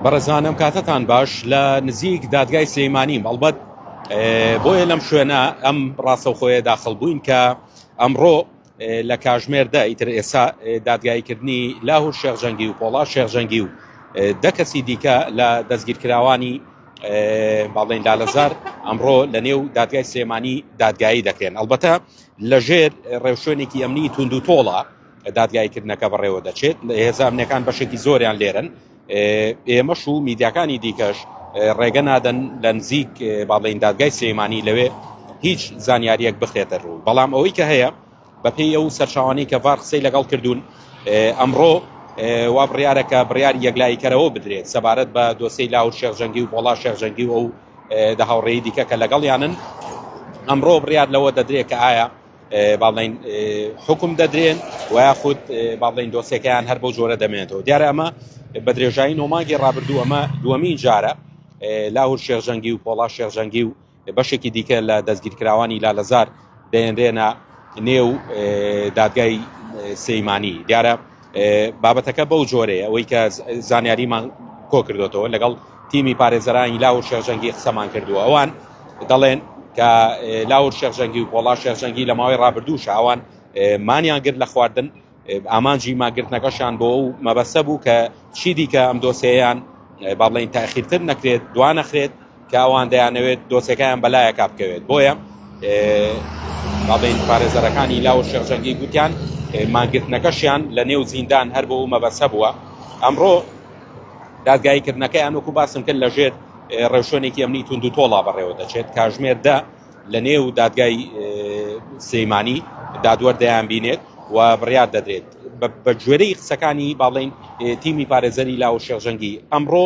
بەڕێزانم کاتتان باش لە نزیک دادگای سلەیمانیم ئەڵبەت بۆیە لەم شوێنە ئەم ڕاستەوخۆیە داخڵ بووین کە ئەمڕۆ لە کاژمێر دە ئیتر ئێستا دادگاییکردنی لاهور شێخ جەنگی و پۆڵا شێخ جەنگی و دە کەسی دیکە لە دەستگیرکراوانی باڵێن لالەزار ئەمڕۆ لە نێو دادگای سلێمانی دادگایی دەکرێن ئەلبەتە لە ژێر ڕێوشوێنێکی ئەمنی توند و تۆڵە دادگاییکردنەکە بەڕێوە دەچێت هێزانەکان بەشێکی زۆریان لێرن ئێمەش و میدیاکانی دیکەش ڕێگە نادەن لە نزیک باڵین دادگای سلێمانی لەوێ هیچ زانیاریەک بخرێتە ڕوو بەڵام ئەوەی کە هەیە بەپێی ئەو سەرچاوانی کە ڤار قسەی لەگەڵ کردوون ئەمڕۆ وا بڕیارەکە بڕیار یەکلاییکەرەوە بدرێت سەبارەت بە دۆسی لاور شێخجەنگی و بۆڵا شێخجەنگی و ئەو دە هاوڕێی دیکە کە لەگەڵیانن ئەمڕۆ بڕیار لەوە دەدرێت کە ئایا با بڵێین حکم دەدرێن و یاخود با بڵێین دۆسێکەیان هەر بەو جۆرە دەمێنێتەوە دیارە ئەمە بە درێژایی نۆماگی ڕابردوو ئەمە دووەمین جارە لاهور شێخجەنگی و پۆڵا شێخجەنگی و بەشێکی دیکە لە دەستگیرکراوانی لالەزار دەێنرێنە نێو دادگای سەیمانی دیارە بابەتەکە بەو جۆرەیە ئەوەی کە زانیاریمان کۆکردوێتەوە لەگەڵ تیمی پارێزەرانی لاور شێخجەنگی قسەمان کردووە ئەوان دەڵێن کە لاور شێخجەنگی و پۆڵا شێخجەنگی لە ماوەی ڕابردوو شاوان مانیان گرت لە خواردن ئامانجی ماگرتنەکەشان بۆ و مەبەسە بوو کە چی دیکە ئەم دۆسەیەیان با بڵین تاخیرتر نەکرێت دوانەخرێت کە ئەوان دەیانەوێت دۆسێکەیان بەلایەکا بکەوێت بۆیە بابین پارێزەرەکانی لاو شێخ جەنگی گوتیان مانگرتنەکەشیان لە نێو زیندان هەر بۆ مەبەسە بووە ئەمڕۆ دادگایی کردنەکەیان وەکو باسم کرد لەژێر ڕێوشوێنێکی ئەمنی تونند و تۆڵا بەڕێوە دەچێت کاژمێر دە لە نێو دادگای سلەیمانی دادوەر دەیان بینێت و بڕیار دەدرێت بە گوێرەی قسەکانی باڵین تیمی پارێزەری لاو شێخ جەنگی ئەمڕۆ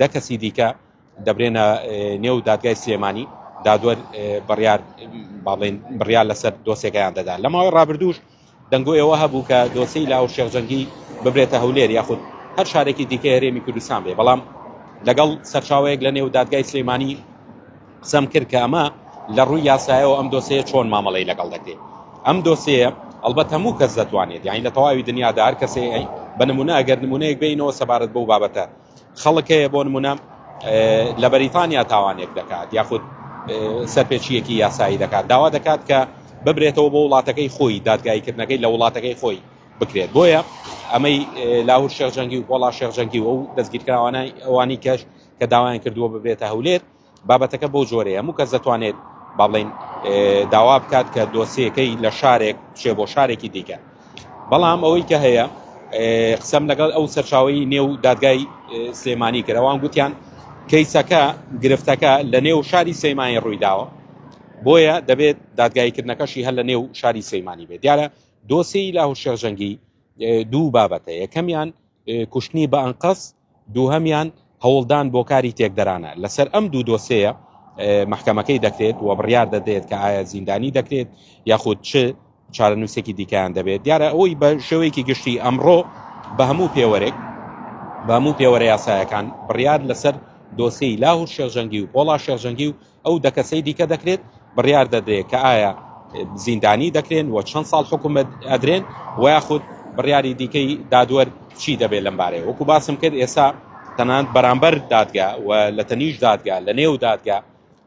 دە کەسی دیکە دەبرێنە نێو دادگای سلێمانی دادوەر بڕیار باڵێن بڕیار لەسەر دۆسێکەیان دەدا لە ماوەی ڕابردووش دەنگۆ ئێوە هەبوو کە دۆسی لاو شێخجەنگی ببرێتە هەولێر یاخود هەر شارێکی دیکە هەرێمی کوردستان بێ بەڵام لەگەڵ سەرچاوەیەک لە نێو دادگای سلێمانی قسەم کرد کە ئەمە لە ڕووی یاسایەوە ئەم دۆسەیە چۆن مامەڵی لەگەڵ دەکرێت ئەم دۆسەیە ئەلبەت هەموو کەس دەتوانێت یانی لە تەواوی دنیادا هەر کەسێ بە نمونە ئەگەر نمونەیەک بینەوە سەبارەت بەو بابەتە خەڵک هەیە بۆ نموونە لە بەریتانیا تاوانێک دەکات یاخود سەرپێچیەکی یاسایی دەکات داوا دەکات کە ببرێتەوە بۆ وڵاتەکەی خۆی دادگایکردنەکەی لە وڵاتەکەی خۆی بکرێت بۆیە ئەمەی لاهور شێخ جەنگی و پۆڵا شێخ جەنگی و ئەو دەستگیرکراوانای ئەوانی کەش کە داوایان کردووە ببرێتە هەولێر بابەتەکە بەو جۆرەیە، هەموو کەس دەتوانێت با بڵێین داوا بکات کە دۆسیەکەی لە شارێک بچێ بۆ شارێکی دیکە، بەڵام ئەوەی کە هەیە قسەم لەگەڵ ئەو سەرچاوی نێو دادگای سلێمانی کردەوان گوتیان کەیسەکە گرفتەکە لە نێو شاری سەیمانی ڕوویداوە بۆیە دەبێت دادگایکردنەکەشی هەر لە نێو شاری سەیمانی بێت دیارە دۆسی لە هەوشێخ جەنگی دوو بابەتە یەکەمیان کوشتنی بە ئەنقەست دووهەمیان هەوڵدان بۆ کاری تێکدەرانە لەسەر ئەم دوو دۆسێیە مەحکەمەکەی دەکرێت و بڕیار دەدرێت کە ئایا زیندانی دەکرێت یاخود چ چارەنووسێکی دیکەیان دەبێت دیارە ئەوەی بە شێوەیەکی گشتی ئەمڕۆ بە هەموو پێوەرێک بە هەموو پێوەرە یاسایەکان بڕیار لەسەر دۆسیی لاهور شێخجەنگی و پۆڵا شێخجەنگی و ئەو دە کەسەی دیکە دەکرێت بڕیار دەدرێت کە ئایا زیندانی دەکرێن و چەند ساڵ حکومت ئەدرێن و یاخود بڕیاری دیکەی دادوەر چی دەبێت لەم بارەیە وەکو باسم کرد ئێستا تەنان بەرامبەر دادگا و لە تەنیش دادگا لە نێو دادگا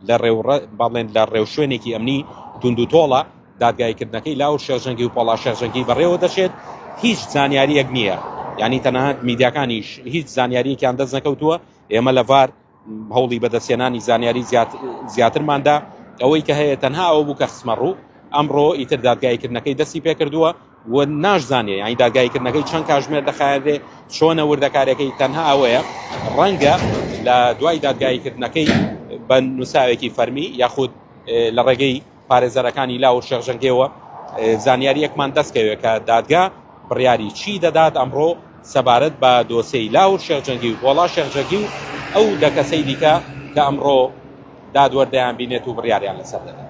لە ڕێوڕە باڵێن لە ڕێو شوێنێکی ئەمنی توند و تۆڵە دادگایکردنەکەی لاو شێژەنگی و پۆڵا شێژەنگی بەڕێوە دەچێت هیچ زانیاریەک نییە ینی تەنانەت میدیاکانیش هیچ زانیاریەکیان دەست نەکەوتووە ئێمە لەڤار هەوڵی بەدەستهێنانی زانیاری زیاترماندا ئەوەی کە هەیە تەنها ئەوە بوو کە خسمە ڕوو ئەمڕۆ ئیتر دادگایکردنەکەی دەستی پێکردووە و ناشزانێ یانی دادگایکردنەکەی چەند کاژمێر دەخایەنێ چۆنە وردەکارەکەی تەنها ئەوەیە ڕەنگە لە دوای دادگایکردنەکەی بە نووساوێکی فەرمی یاخود لە ڕێگەی پارێزەرەکانی لاو و شێخ جەنگێوە زانیاریەکمان دەست کەوێت کە دادگا بڕیاری چی دەدات ئەمڕۆ سەبارەت بە دۆسێی لاو و شێخ جەنگی و گۆڵا شێخ جەنگی و ئەو دە کەسەی دیکە کە ئەمڕۆ دادوەر دەیان بینێت و بڕیاریان لەسەر دەدات.